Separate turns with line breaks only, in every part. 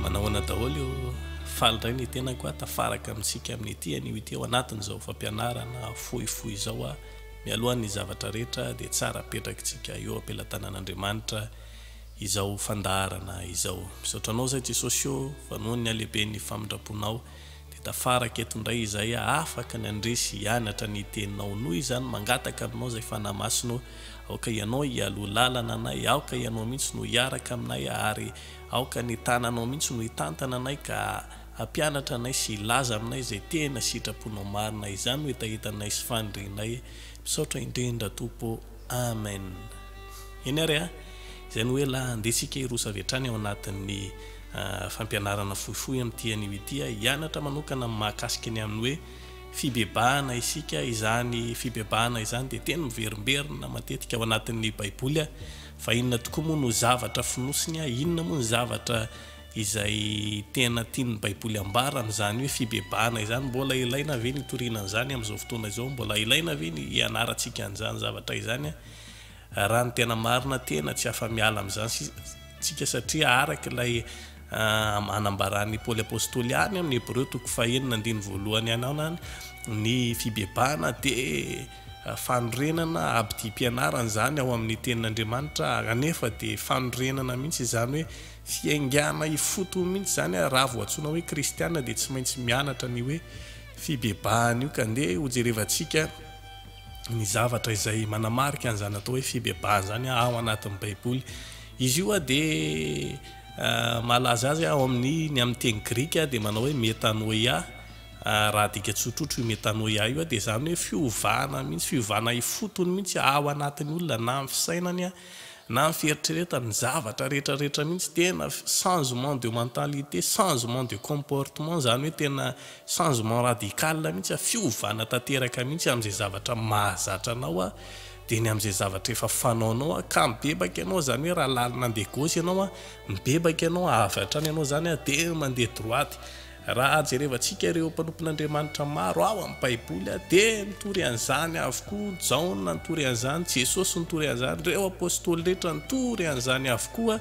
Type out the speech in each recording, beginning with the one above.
Manahoana daholo eo faly indray ny tenako a tafaraka amintsika amin'ity anio ity ao anatin'izao fampianarana fohifohy izao a mialohan'ny zavatra rehetra dia tsara apetrakitsika eo am-pelatanan'Andriamanitra izao fandaharana izao misaotra anao zay Jesosy o fa noho ny halehiben'ny famindramponao Dia tafaraka eto indray izay aho afaka ny handresy hianatra ny teninao noho izany mangataka aminao izay Fanahy Masina ô, aoka ianao hialoha lalana anay, aoka ianao mihitsy no hiaraka aminay ary aoka ny tananao mihitsy no hitantana anay ka hampianatra anay sy hilaza aminay izay tena sitraponao marina, izany no hetahetanay sy fanirianay, misaotra indrindra Tompo ô. Amen eny ary a! Izay no hoe la andeha isika hiroso avy hatrany ao anatin'ny fampianarana fohifohy amin'ity anio ity a! Hianatra manokana mahakasika ny amin'ny hoe fibebahana isika, izany fibebahana izany dia teny miverimberina matetika ao anatin'ny baiboly a! Fa inona tokoa moa no zavatra fonosiny a! Inona moa ny zavatra Izay tena tian'ny Baiboly ambara amin'izany hoe fibebahana izany, mbola ilaina ve ny hitoriana an'izany amin'izao fotoana izao? Mbola ilaina ve ny hianarantsika an'izany zavatra izany? Raha ny tena marina, tena tsy afa-miala amin'izany isika, satria araka ilay anambaran'i Paoly Apostoly any amin'ny Hebreo toko fahenina andininy voalohany any anany, ny fibebahana dia fanorenana abidim-pianarana izany ao amin'ny Tenin'Andriamanitra, kanefa dia fanorenana mihitsy izany hoe Fiaingàna ifotony mihitsy izany ary raha vao antsoina hoe kristiana dia tsy maintsy mianatra an'io hoe fibebahana io ka andeha hojerevantsika ny zavatra izay manamarika an'izany atao hoe fibebahana izany ao anatin'ny baiboly. Izy io dia mahalaza azy ao amin'ny ny amin'ny teny grika dia manao hoe metanoia raha adika tsotrotro io metanoia io dia izany hoe fiovana mihitsy fiovana ifotony mihitsy ao anatin'ny olona na amin'ny fisainany na ny fieritreretany, ny zavatra rehetra rehetra mihitsy, tena changement de mentalité, changement de comportement, izany hoe tena changement radical mihitsy, fiovana tanteraka mihitsy amin'izay zavatra mahazatra anao dia ny amin'izay zavatra efa fanaonao, ka mibebaka ianao, izany hoe raha lalina handeha gauche ianao, mibebaka ianao, avy hatrany ianao izany dia mandeha droite. Raha jerevantsika ireo mpanompon'Andriamanitra maro ao amin'ny Baiboly dia nitory an'izany avokoa Jaona nitory an'izany, Jesosy nitory an'izany, ireo Apostoly rehetra nitory an'izany avokoa.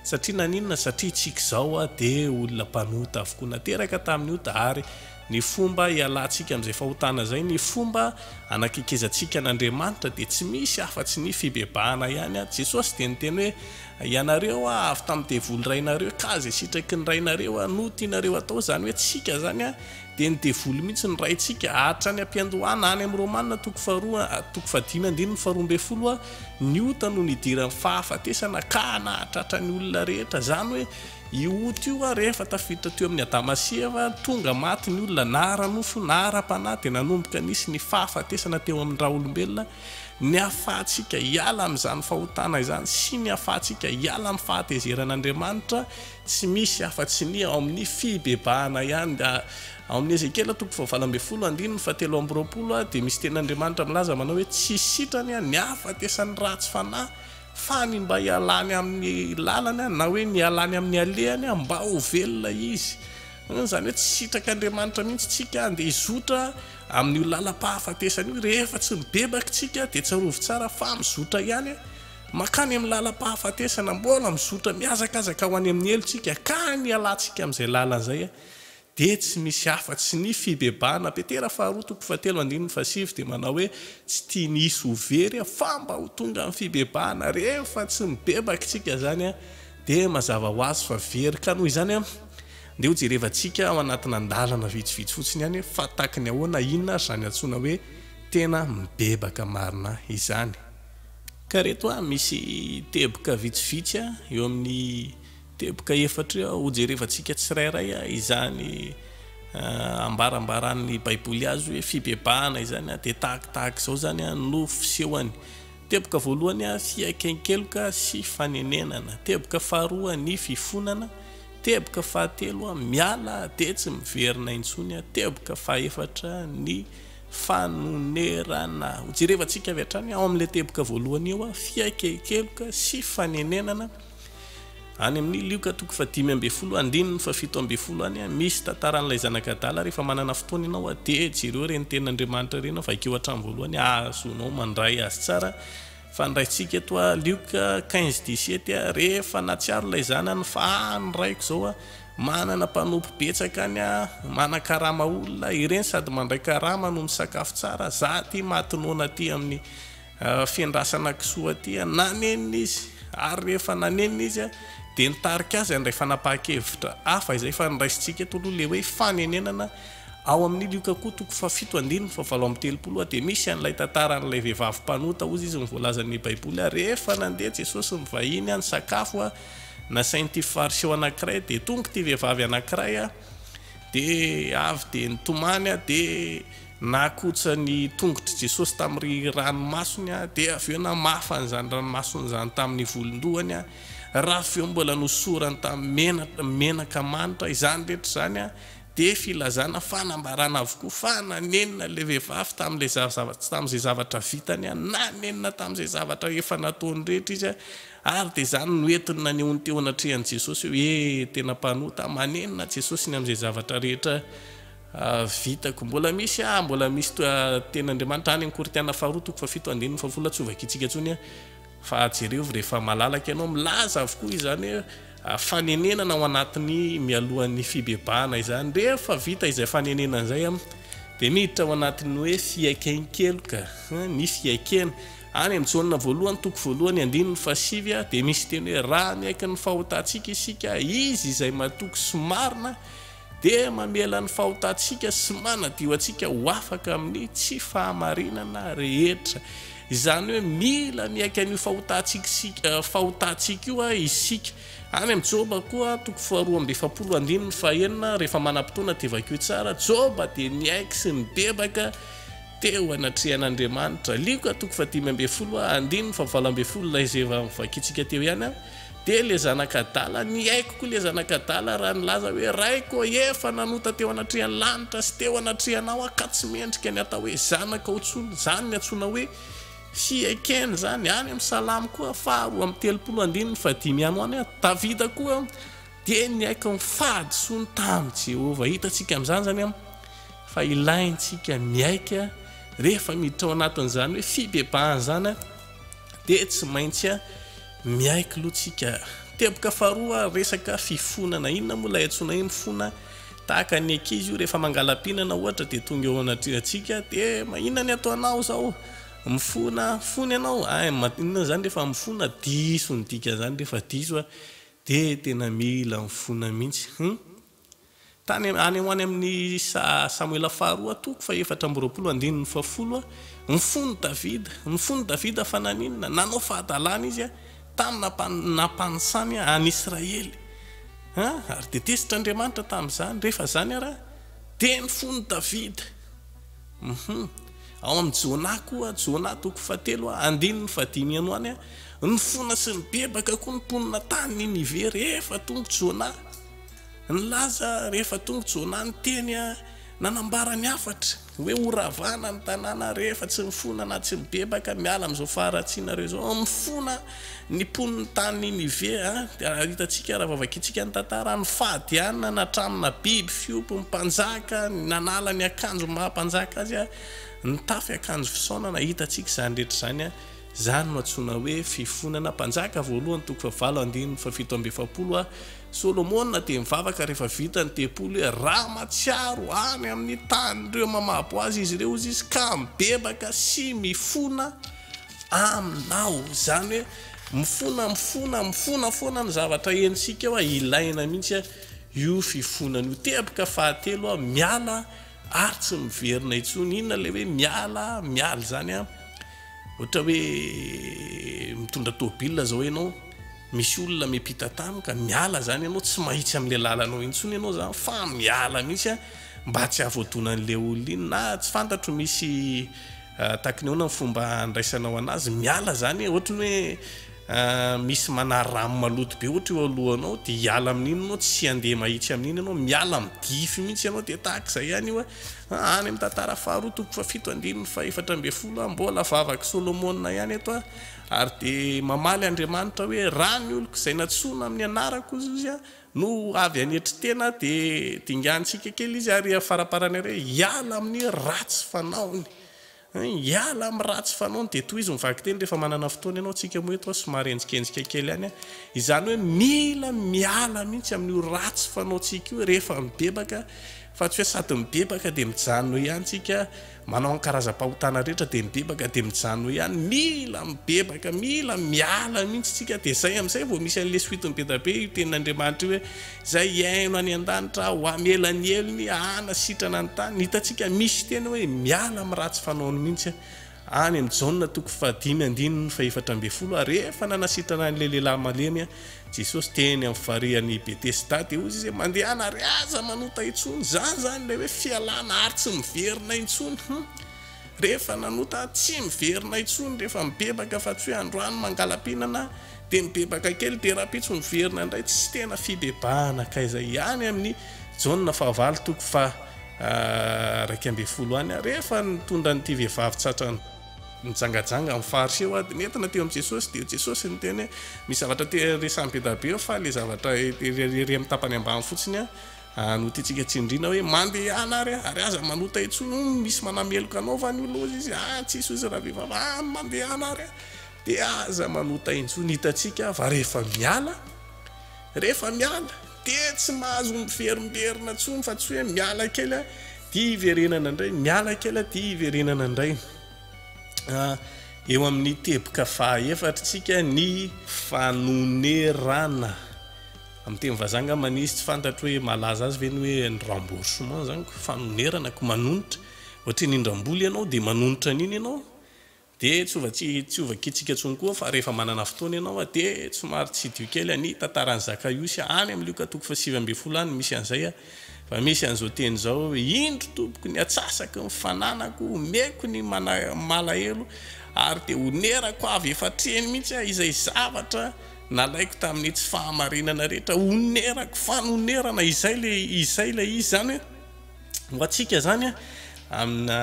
Satria naninona? Satria isika izao dia olona mpanota avokoa, nateraka tamin'ny ota ary ny fomba hialantsika amin'izay fahotana izay, ny fomba hanakekezantsika an'Andriamanitra dia tsy misy afa-tsy ny fibebahana ihany. Jesosy dia niteny hoe Ianareo a, avy tamin'ny devoly rainareo ka izay sitraky ny rainareo a, no tianareo atao, izany hoe tsika izany a, dia ny devoly mihitsy no raintsika. Hatrany am-piandohana, any amin'ny Romana, toko faharoa, toko fahadimy andininy faharoa ambin'ny folo a, ny ota no nidiran'ny fahafatesana ka nahatratra ny olona rehetra. Izany hoe, io ota io a, rehefa tafiditra teo amin'ny Adama sy Eva, tonga maty ny olona na ara-nofo na ara-panahy, dia nanomboka nisy ny fahafatesana teo amin'ny raolombelona, Ny hahafahantsika hiala amin'izany fahotana izany sy ny hahafahantsika hiala amin'ny fahatezeran'Andriamanitra tsy misy afa-tsy ny ao amin'ny fibebahana ihany. Dia ao amin'ny Ezekiela toko fahavalo ambin'ny folo andininy fahatelo amby roapolo dia misy tenin'Andriamanitra milaza manao hoe, Tsy sitrany ny hahafatesan'ny ratsy fanahy, fa ny mba hialany amin'ny lalany na hoe ny hialany amin'ny alehany mba ho velona izy. Izany hoe tsy sitrak'Andriamanitra mihitsy isika dia hizotra. Amin'io lalam-pahafatesana io, rehefa tsy mibebaka isika dia tsarovy tsara fa mizotra ihany e! Mankany amin'ny lalam-pahafatesana, mbola mizotra, mihazakazaka ho any amin'ny helo isika, ka ny hialantsika amin'izay lalana izay dia tsy misy afa-tsy ny fibebahana. Petera faharoa toko fahatelo andininy fahasivy dia manao hoe, Tsy tiany hisy ho very aho, fa mba ho tonga ny fibebahana. Rehefa tsy mibebaka isika izany dia mazava ho azy fa very, ka noho izany, Ndeha hojerevantsika ao anatina andalana vitsivitsy fotsiny ihany hoe fa tahaky ny ahoana, inona ary izany antsoina hoe tena mibebaka marina izany. Ka ireto a, misy teboka vitsivitsy a, eo amin'ny teboka efatra eo a, hojerevantsika tsirairay a, izany ambarambaran'ny Baiboly azy hoe fibebahana izany a, dia tahakitahaka izao izany a no fisehony. Teboka voalohany, fiaiken-keloka sy fanenenana. Teboka faharoa, ny fifonana. Teboka fahatelo, miala dia tsy miverina intsony. Teboka fahefatra, ny fanonerana. Hojerevantsika avy hatrany ao amin'ilay teboka voalohany io, fiaiken-keloka sy fanenenana. Any amin'ny Lioka toko fahadimy ambin'ny folo andininy fahafito ambin'ny folo any, misy tantaran'ilay zanak'adala, Rehefa manana fotoana ianao a dia jereo ireny tenin'Andriamanitra ireny aho, vakio hatramin'ny voalohany hahazoanao mandray azy tsara. Fa ny raintsika eto a, Lioka quinze dix sept a, rehefa nahatsiaro ilay zanany fa ah ny raiko izao a, manana mpanompo betsaka any a, manakarama olona, ireny sady mandray karama no misakafo tsara, za aty maty noana aty amin'ny Fiandrasana kisoa aty an! Nanenina izy, ary rehefa nanenina izy an! dia nitarika azy handray fanapahan-kevitra hafa izay efa noraisintsika eto aloha, ilay hoe fanenenana. Ao amin'ny Lioka koa toko fahafito andininy fahavalo amby telopolo dia misy an'ilay tantaran'ilay vehivavy mpanota, hozy izy, ny voalazan'ny Baiboly an! Rehefa nandeha Jesosy nivahiny an! nisakafo an! nasain'ity Fariseo anankiray, dia tonga ity vehivavy anankiray an! dia avy dia nitomany an! dia. Nakotsa ny tongotr'i Jesosy tamin'ny ranomasony, dia avy eo namafa an'izany ranomasony izany tamin'ny volon-dohany, raha avy eo mbola nosorany tamin'ny menaka manitra. Izany rehetra izany dia filazana, fanambarana avokoa fa nanenina ilay vehivavy tamin'izay zavatra vitany, nanenina tamin'izay zavatra efa nataony rehetra izy, ary dia izany no entiny nanehoany teo anatrehan'i Jesosy hoe tena mpanota. Manenina Jesosy ny amin'izay zavatra rehetra. Vitako. Mbola misy ah, mbola misy toa Teny Andriamanitra any Ankoritiana faharoa toko fahafito andininy fahafolo tsy ho vakitsika tsony ah fa jereo rehefa malalaka ianao milaza avokoa izany ah fanenenana ao anatin'ny mialohan'ny fibebahana izany rehefa vita izay fanenenana izay ah dia miditra ao anatin'ny hoe fiaikein-keloka hein ny fiaikena any amin'ny Jaona voalohany toko voalohany andininy fahasivy ah dia misy teny hoe raha miaiky ny fahotantsika isika izy izay matoky sy marina dia mamela ny fahotantsika sy manadio antsika ho afaka amin'ny tsy fahamarinana rehetra. Izany hoe mila miaiky an'io fahotantsika io isika. Any amin'ny Joba koa, toko faharoa amby efapolo andininy fahenina, rehefa manam-potoana dia vakio tsara, Joba dia niaiky sy nibebaka teo anatrehan'Andriamanitra. Lioka, toko fahadimy ambin'ny folo andininy fahavalo ambin'ny folo, ilay izay efa novakintsika teo ihany. Dia le zanak'adala, ny aiko koa le zanak'adala raha nilaza hoe, Raiko ô, efa nanota teo anatrehan'ny lanitra sy teo anatrehanao aho ka tsy mendrika ny hatao hoe zanakao intsony, izany ny antsoina hoe, Hiaikena izany, any amin'ny Salamo koa, faha roa amby telopolo, andininy fahadimy ihany ho any aho, Davida koa dia niaiky ny fahadisoany tamin'i Jehovah. Hitantsika amin'izany izany fa ilaintsika miaiky rehefa miditra ao anatin'izany hoe fibebahana izany dia tsy maintsy Miaiky loha tsika. Teboka faharoa resaka fifonana. Inona moa ilay antsoina hoe mifona? Tahaka ny ankizy io rehefa mangalam-pihinana ohatra dia tonga eo anatrehantsika dia inona ny ataonao izao? Mifona fony ianao? Hay inona izany re fa mifona? Diso ny dikan'izany re fa diso a! Dia tena mila mifona mihitsy. Hum. Tany any ho any amin' ny Samoela Faharoa toko fahefatra amby roapolo andininy fahafolo, ny fon' Davida, ny fon' i Davida fa naninona? Nanao fahadalana izy tamin' ny nampanisany an' Israely, ary dia tezitr' Andriamanitra tamin' izany, rehefa izany ara dia ny fon' i Davida. Ao amin' ny Jona koa, Jona toko fahatelo andininy fahadimy any ho any, nifona sy nibebaka koa ny mponina tany Ninive rehefa tonga i Jona. Nilaza rehefa tonga Jona ny teny nanambara ny hafatra hoe horavana ny tanàna rehefa tsy mifona na tsy mibebaka miala amin'izao faharatsianareo izao. Mifona ny mponin'ny tany Ninive dia hitantsika raha vao vakintsika ny tantara, ny fahadianana hatramina biby fiompy, ny mpanjaka nanala ny akanjo maha mpanjaka azy, nitafy akanjo fisaonana, hitantsika izany rehetra izany. Izany no antsoina hoe fifonana Mpanjaka voalohany toko fahavalo andininy fahafito amby efapolo Hoy Solomona dia mivavaka rehefa vita ny tempoly hoe, Raha mahatsiaro any amin'ny tanin'ireo mamabo azy izy ireo hozy izy ka mibebaka sy mifona Aminao. Izany hoe mifona, mifona, mifona foana ny zavatra henontsika eo. Ilaina mihitsy io fifonana io. Teboka fahatelo, miala ary tsy miverina intsony, inona ilay hoe miala miala izany an, ohatra hoe mitondra tôbila zao ianao misy olona miampita tany ka miala izany ianao tsy mahitsy amin'ilay lalanao intsony ianao zany fa miala mihitsy an mba tsy hahavoadonan'ilay olona iny na tsy fantatro misy ah, takinona ny fomba andraisanao anazy miala izany ohatra ny hoe misy manary rano maloto be ohatra eo alohanao dia hiala amin'iny ianao tsy handeha mahitsy amin'iny ianao miala midify mihitsy ianao dia tahaka izay ihany io hoe any amin'ny tantara faharoa toko fahafito andininy fahefatra ambin'ny folo aho mbola vavak'i Solomona ihany eto aho ary dia mamaly Andriamanitra hoe raha ny oloko izay nantsoina amin'ny anarako hozy izy aho no avy hanetry tena dia dingantsika kely izy ary faraparany ary hoe hiala amin'ny ratsy fanaony Hiala amin'ny ratsy fanaony dia tohizo ny vakiteny rehefa manana fotoana ianao, tsika moa eto somary henjikenjika kely ihany, izany hoe mila miala mihitsy amin'io ratsy fanaontsika io rehefa mibebaka fa tsy hoe sady mibebaka dia mijanona eo ihany tsika, manao ny karazam-pahotana rehetra dia mibebaka dia mijanona eo ihany, mila mibebaka, mila miala mihitsy tsika dia izay amin'izay vao misy an'ilay suite-ny bedabe io tenin'Andriamanitra io hoe, Izay hihaino any an-danitra ho hamela ny helony, hanasitrana ny tany. Ny hitantsika misy teny hoe miala amin'ny ratsy fanaony mihitsy any amin'ny Jaona toko fahadimy andininy fahefatra ambin'ny folo. Ary rehefa nanasitrana an'ilay lehilahy malemy Jesosy teny amin'ny farihan'i Betesda dia hoy Izy, Mandehana ary aza manota intsony. Izany izany ilay hoe fialana ary tsy miverina intsony. Rehefa nanota tsy miverina intsony rehefa mibebaka fa tsy hoe androany mangala-pihinana dia mibebaka kely dia rahampitso miverina indray tsy tena fibebahana hankaiza ihany amin'ny Jaona fahavalo toko faha raika ambin'ny folo any rehefa nitondra an'ity vehivavy tratra nijangajanga amin'ny faritra eo dia nentina teo amin'i Jesosy dia Jesosy niteny hoe misy zavatra te resahin'i be dabe eo fa ilay zavatra ery amin'ny tapany ambany fotsiny Ary ho tiantsika tsindriana hoe, Mandehana ary, ary aza manota intsony, hono misy manameloka anao fa nioloza izy, ah tsisy hozy ravehivavy, ah mandehana ary, dia aza manota intsony, hitantsika fa rehefa miala, rehefa miala, dia tsy mahazo miverimberina intsony, fa tsy hoe miala kely dia hiverenana indray, miala kely dia hiverenana indray. Ah, eo amin'ny teboka faha efatr'tsika ny fanonerana Amin'ny teny vazaha angamba nisy tsy fantatro hoe mahalaza azy ve ny hoe ny remboursement izany ko fanonerana ko manonitra ohatry ny indram-bola ianao dia manonitra an'iny ianao dia tsy hova tsy hova kitsika intsony koa fa rehefa manana fotoana ianao a dia somary tsidiho kely any tantaran'i Zakaiosy any amin'ny lioka toko fahasivy ambin'ny folo any misy an'izay a fa misy an'izao teny izao hoe indro tompoko ny atsasaky ny fananako omeko ny mana malahelo ary dia honerako avy efa hatreny mihitsy a izay zavatra Nalaiko tamin'ny tsy fahamarinana rehetra, onerako, fanonerana, izay ilay, izay ilay izy izany hoe, ho antsika izany an, amina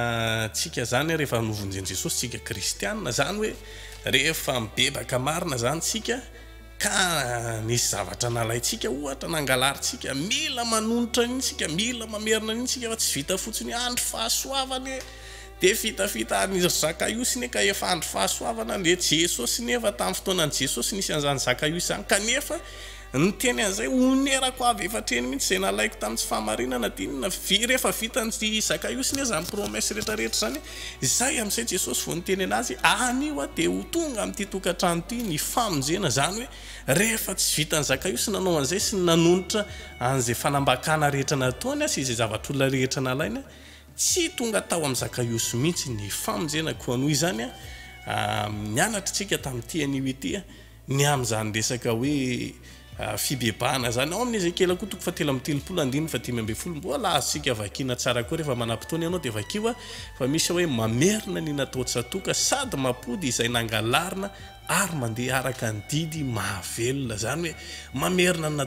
tsika izany rehefa novonjen'i Jesosy tsika kristiana, izany hoe rehefa mibebaka marina izany tsika, ka nisy zavatra nalaintsika ohatra, nangalarintsika, mila manonitra an'iny tsika, mila mamerina an'iny tsika, fa tsy vita fotsiny hoe andry fahasoavana e! Dia fitafita any izy ry Zakaiosy ne ka efa andro fahasoavana an, dia Jesosy ne efa tamin'ny fotoanan'i Jesosy nisy an'izany Zakaiosy izany kanefa niteny an'izay onerako avy efa hatreny mihitsy izay nalaiko tamin'ny tsy fahamarinana dia inona ve rehefa vitan'i Zakaiosy ne izany promesse rehetra rehetra izany izay amin'izay Jesosy vao niteny an'azy anio aho dia ho tonga amin'ity tokantrano ity ny famonjena izany hoe rehefa tsy vitan'i Zakaiosy nanao an'izay sy nanonitra an'izay fanambakana rehetra nataony sy izay zavatr'olona rehetra nalainy Tsy tonga tao amin'i Zakaiosy mihitsy ny famonjena, koa noho izany, nianatra isika tamin'ity anio ity ny amin'izany resaka hoe fibebahana izany. Ao amin'ny Ezekiela koa, toko fahatelo amby telopolo, andininy fahadimy ambin'ny folo, mbola azontsika vakiana tsara koa, rehefa manam-potoana ianao dia vakio, fa misy hoe, Mamerina ny natao tsatoka, sady mampody izay nangalarina, ary mandeha araka ny didy mahavelona, izany hoe mamerina ny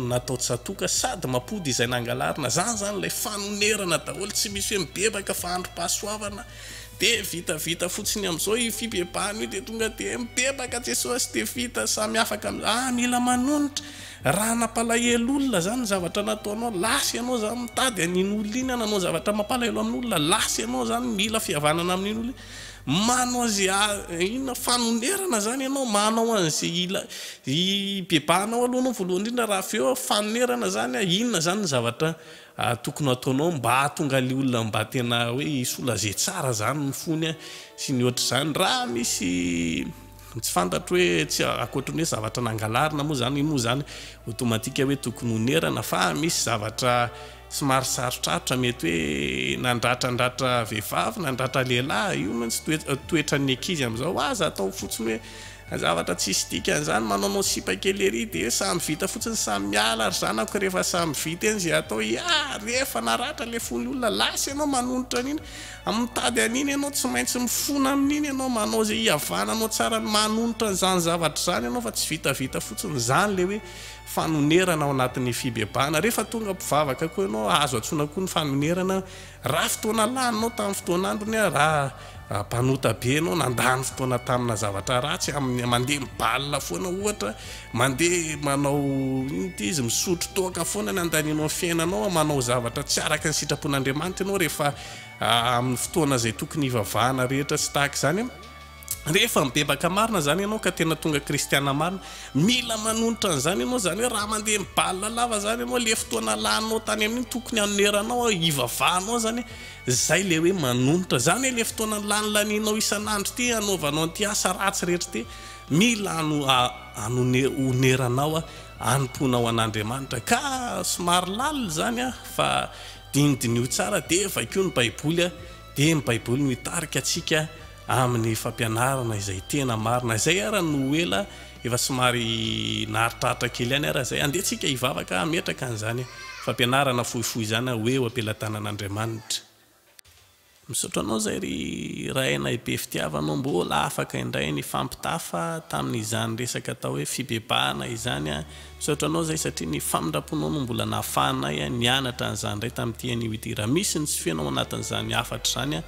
natao tsatòka sady mampody izay nangalarina, izany izany ilay fanonerana daholo, tsy misy hoe mibebaka fa androm-pahasoavana dia vita, vita fotsiny amin'izao io fibebahana io dia tonga dia mibebaka Jesosy dia vita, samy afaka amin'izay, ah mila manonitra, raha nampalahelo olona izany ny zavatra nataonao, lasa ianao izany mitady an'iny olona iny hanao zavatra mampalahelo amin'olona, lasa ianao izany mila fihavanana amin'iny olona iny. Manao ze a inona fanonerana zany ianao manao an'ze ila i bebahanao aloha anao voalohany indrindra raha avy eo fanonerana zany a inona zany ny zavatra a tokony hataonao mba hahatonga le olona mba tena hoe hisolager tsara zany ny fony a sy ny ohatr'izany raha misy Tsy fantatro hoe tsy ankoatry ny hoe zavatra nangalarina moa izany, io moa izany automatique hoe tokony ho nerana fa misy zavatra somary sarotrarotra mety hoe nandratrandratra vehivavy, nandratra lehilahy, io mantsy toetra toetran'ny ankizy amin'izao, aza atao fotsiny hoe zavatra tsisy dikany izany, manaonao sipa kely ery dia hoe samy vita fotsiny, samy miala ry zanako rehefa samy vita eny izay atao, iaa rehefa naratra ilay fon'ny olona lasa ianao manonitra an'iny, Mitady an'iny ianao, tsy maintsy mifona amin'iny ianao, manao izay hihavananao tsara, manonitra an'izany zavatra izany ianao fa tsy vitavita fotsiny izany ilay hoe fanonerana ao anatin'ny fibebahana. Rehefa tonga mpivavaka koa ianao, azo antsoina koa ny fanonerana. Raha fotoana laninao tamin'ny fotoana androny, raha mpanota be ianao, nandany fotoana tamina zavatra ratsy, amin'ny mandeha mibalina foana ohatra, mandeha manao inona ity izy, misotro toaka foana, nandanianao ny fiainanao, manao zavatra tsy araka ny sitrapon'Andriamanitra ianao rehefa amin'ny fotoana izay tokony hivavahana rehetra sy tahaka izany rehefa mibebaka marina izany ianao ka tena tonga kristiana marina mila manonitra an'izany ianao izany hoe raha mandeha mibalina lava izany ianao le fotoana laninao tany amin'iny tokony hanoneranao hivavahanao izany izay le hoe manonitra izany hoe le fotoana lany lanianao isan'andro ity hanaovanao an'ity asa ratsy rehetra ity mila ano anone oneranao anompoanao an'Andriamanitra ka somary lalina izany fa Dinidineho tsara dia vakio ny Baiboly dia ny Baiboly no hitarika antsika amin'ny fampianarana izay tena marina. Izay ara no ho ela efa somary naharitraritra kely ihany ara izay. Andeha tsika hivavaka hametraka an'izany fampianarana fohifohy izany hoe eo am-pelatanan'Andriamanitra. Misaotra anao zay ry Rahainay be fitiavana ô mbola afaka indray nifampitafa tamin izany resaka atao hoe fibebahana izany an! Misaotra anao zay satria ny famindramponao no mbola nahafahanay nianatra an'izany indray tamin'ity anio ity! Raha misy ny tsy feno ao anatin'izany hafatra izany an!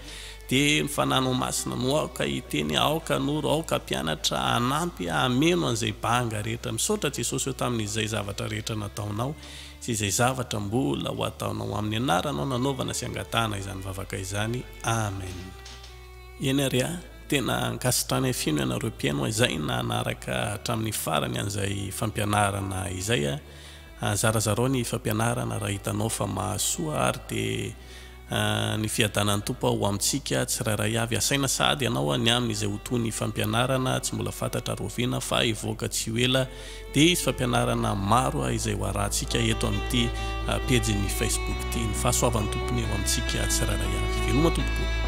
Dia ny Fanahy nao Masina no aoka hiteny, aoka hanoro, aoka hampianatra, hanampy, hameno an'izay banga rehetra! Misaotra Jesosy ô tamin'izay zavatra rehetra nataonao! Tsy izay zavatra mbola ho ataonao amin'ny anaranao nanaovana sy angatahana izany vavaka izany. Amen. Eny ary a! Tena ankasitrany afino ianareo mpihaino izay nanaraka hatramin'ny farany an'izay fampianarana izay a! Zarazarao ny fampianarana raha hitanao fa mahasoa ary dia Ny fiadanan'ny Tompo ho amintsika tsirairay avy. Asaina sahady ianao ny amin' izay ho toy ny fampianarana tsy mbola fantatra Rahoviana fa hivoaka tsy ho ela dia hisy fampianarana maro izay ho arahantsika eto amin'ity pejin'ny Facebook ity. Ny fahasoavan'ny Tompony ho amintsika tsirairay avy. Veloma Tompoko.